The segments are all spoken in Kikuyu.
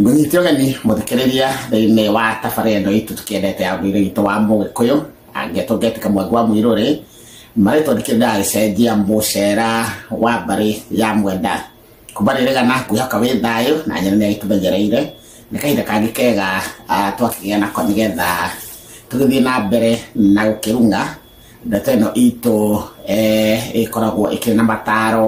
Mũnyiti ũgeni mũthikĩrĩria thĩinĩ wa tabarĩ ĩno itũ tũkĩendete ya mũirũ witũ wa mũgĩkũyũ angĩtũngĩtika mwangu wa mũirũ rĩ marĩtwa ndikĩrĩnda agĩcenjia mũcera wa mbarĩ ya mwenda kuma rĩrĩgana kwĩhoka wĩ thayũ na nyene nĩ agĩtũmenyereire nĩ kahinda kangĩ kega ah, twakĩgĩa nako nĩgetha tũgĩthiĩ na mbere na gũkĩrunga ndeto ĩno itũ eh, ĩkoragwo ĩkĩrĩ na mataro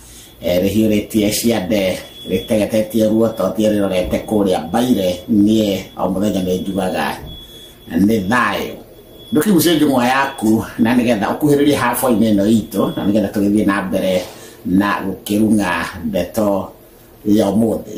Eh, rĩhiũrĩtie ciande rĩtegetetie ruototie rĩrorete kũrĩa mbaire niĩ o mũthenya nĩ njugaga nĩ thayũ ndũkĩgucie njũng'wa yaku na nĩgetha ũkuhĩrĩrie haboinĩ ĩno itũ na nĩgetha tũgĩthiĩ na mbere na gũkĩrung'a ndeto ya ũmũthĩ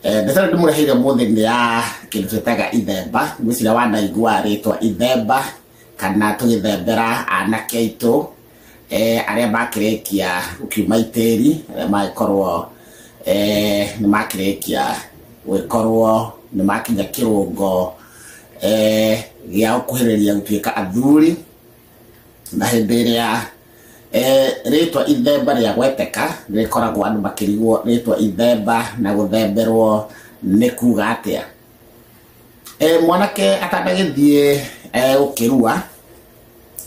Mbiacara ndĩmũreheire mũthĩ nĩ ya kĩndũ twĩtaga ithemba, ngwĩciria wanaigua rĩtwa ithemba kana tũgĩthembera anake aitũ arĩa makĩrĩkia gũkiuma itĩri, arĩa magĩkorwo nĩ makĩrĩkia gũgĩkorwo nĩ makinya kĩrũngo gĩa gũkuhĩrĩria gũtuĩka athuri. na hĩndĩ ĩrĩa eh, rĩtwa ithemba rĩa gweteka rĩkoragwo andũ makĩrigwo rĩtwa ithemba na gũthemberwo nĩ kuga atĩa Eh, mwanake atandagĩthiĩ eh, gũkĩrua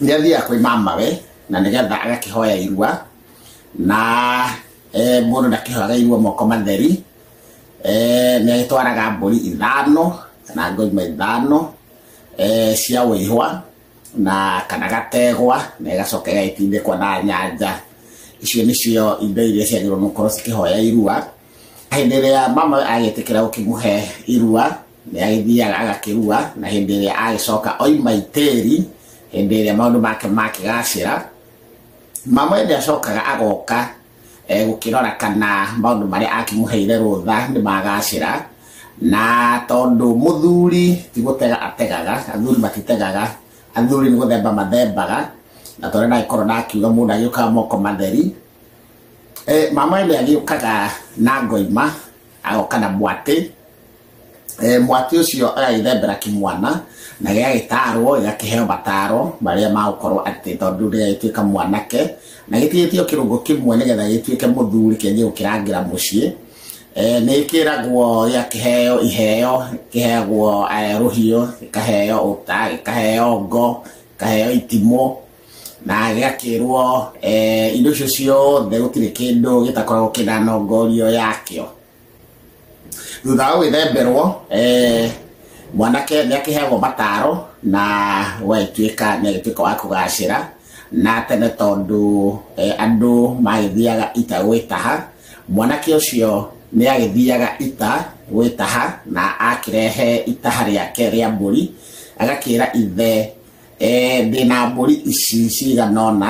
nĩ athiaga kwĩ mamawe na nĩgetha agakĩhoya irua na eh, mũndũ ndakĩhoyaga irua moko matheri eh, nĩ agĩtwaraga mbũri ithano kana ngoima ithano eh, cia wĩhwa na kana gategwa na ĩgacoka ĩgaitindĩkwa na nyanja icio nĩcio indo iria ciagĩrĩirwo nĩ gũkorwo cikĩhoya irua hĩndĩ ĩrĩa mama agĩtĩkĩra gũkĩmũhe irua nĩ agĩthiaga agakĩrua na hĩndĩ ĩrĩa agĩcoka oima itĩri hĩndĩ ĩrĩa maũndũ make makĩgacĩra mama nĩ acokaga agoka eh, gũkĩrora kana maũndũ marĩa akĩmũheire rũtha nĩ magacĩra na tondũ mũthuri ti gũtega ategaga athuri matitegaga athuri nĩ gũthemba mathembaga na tondũ ndagĩkorwo ndakiuga mũndũ agĩũkaga moko matheri Eh, mama nĩ agĩũkaga na ngoima agoka na mwatĩ eh, mwati ũcio agagĩthembera kĩmwana na gĩgagĩtarwo gĩgakĩheo mataro marĩa magũkorwo atĩ tondũ gĩgagĩtuĩka mwanake na gĩtigĩtio kĩrũngo kĩmwe nĩgetha gĩtuĩke mũthuri kĩanjie gũkĩrangĩra mũciĩ Eh, nä kä ragwo gä a kä heo iheo kä heagwo eh, rå hiå gä kaheo å ta gä kaheo ngo gä kaheo itimå na gä gakä rwo indo icio ciothe gå tirä kä ndå gä takoragwo kä na nongorio yakä o thutha wa gwĩthemberwo eh, mwanake nĩ akĩheagwo mataro na wagĩtuĩka nĩ agĩtuĩka wa kũgacĩra na tene tondũ eh, andũ magĩthiaga ita gwĩtaha mwanake ũcio nĩ agĩthiaga ita gwĩtaha na akĩrehe itaha rĩake rĩa mbũri agakĩra ithe eh, ndĩna mbũri ici cigana ũna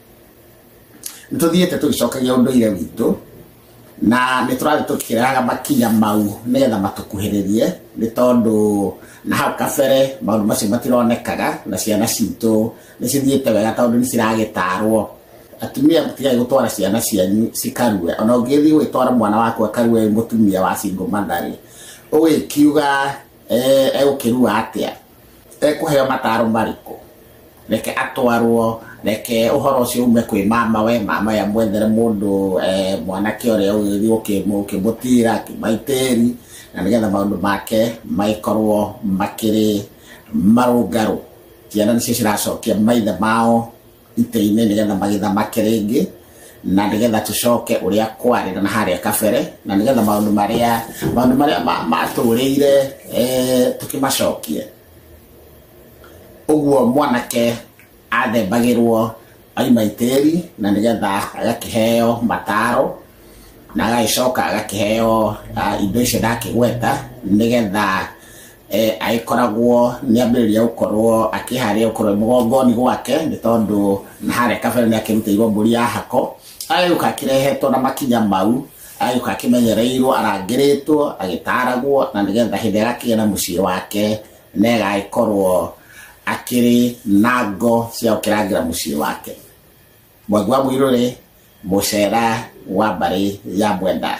nĩ tũthiĩte tũgĩcokagia ũndũire witũ na nĩ tũrathiĩ tũkĩrehaga makinya mau nĩgetha matũkuhĩrĩrie nĩ tondũ na hau kabere maũndũ macio matironekaga na ciana citũ nĩ cithiĩte wega tondũ nĩ ciragĩtarwo atumia mũtigai gũtwara ciana cianyu cikarue ona ũngĩthiĩ gwĩtwara mwana waku akarue mũtumia wa cingũ mandarĩ ũgĩkiuga eh, egũkĩrua atĩa ekũheo mataro marĩkũ reke atwarwo reke ũhoro ũcio ume kwĩ mama we mama ya mwethere mũndũ eh, mwanake ũrĩa ũgĩthiĩ ũkĩmũtira kĩmaitĩri na nĩgetha maũndũ make magĩkorwo makĩrĩ marũngarũ ciana nĩcio ciracokia maithe mao itĩ-inĩ nĩgetha magĩthamake rĩngĩ na nĩgetha tũcoke ũrĩa kwarĩ na harĩa kabere na nĩgetha maũndũ marĩa maũndũ marĩa ma- matũũrĩire eh, tũkĩmacokie ũguo mwanake athembagĩrwo aima itĩri na nĩgetha agakĩheo mataro na agagĩcoka agakĩheo ah, indo icio ndakĩgweta nĩgetha eh, agĩkoragwo nĩ ambĩrĩria gũkorwo akĩharĩa gũkorwo mũgongoni gwake nĩ tondũ na harĩa kabere nĩ akĩrutĩirwo mbũri ya hako agĩũka akĩrehetwo na makinya mau agĩũka akĩmenyereirwo arangĩrĩtwo agĩtaragwo na nĩgetha hĩndĩ ĩrĩa agakĩgĩa na mũciĩ wake na ĩgagĩkorwo akĩrĩ na ngo cia gũkĩrangĩra mũciĩ wake mwangi wa mũirũrĩ mũcera wa mbarĩ ya mwenda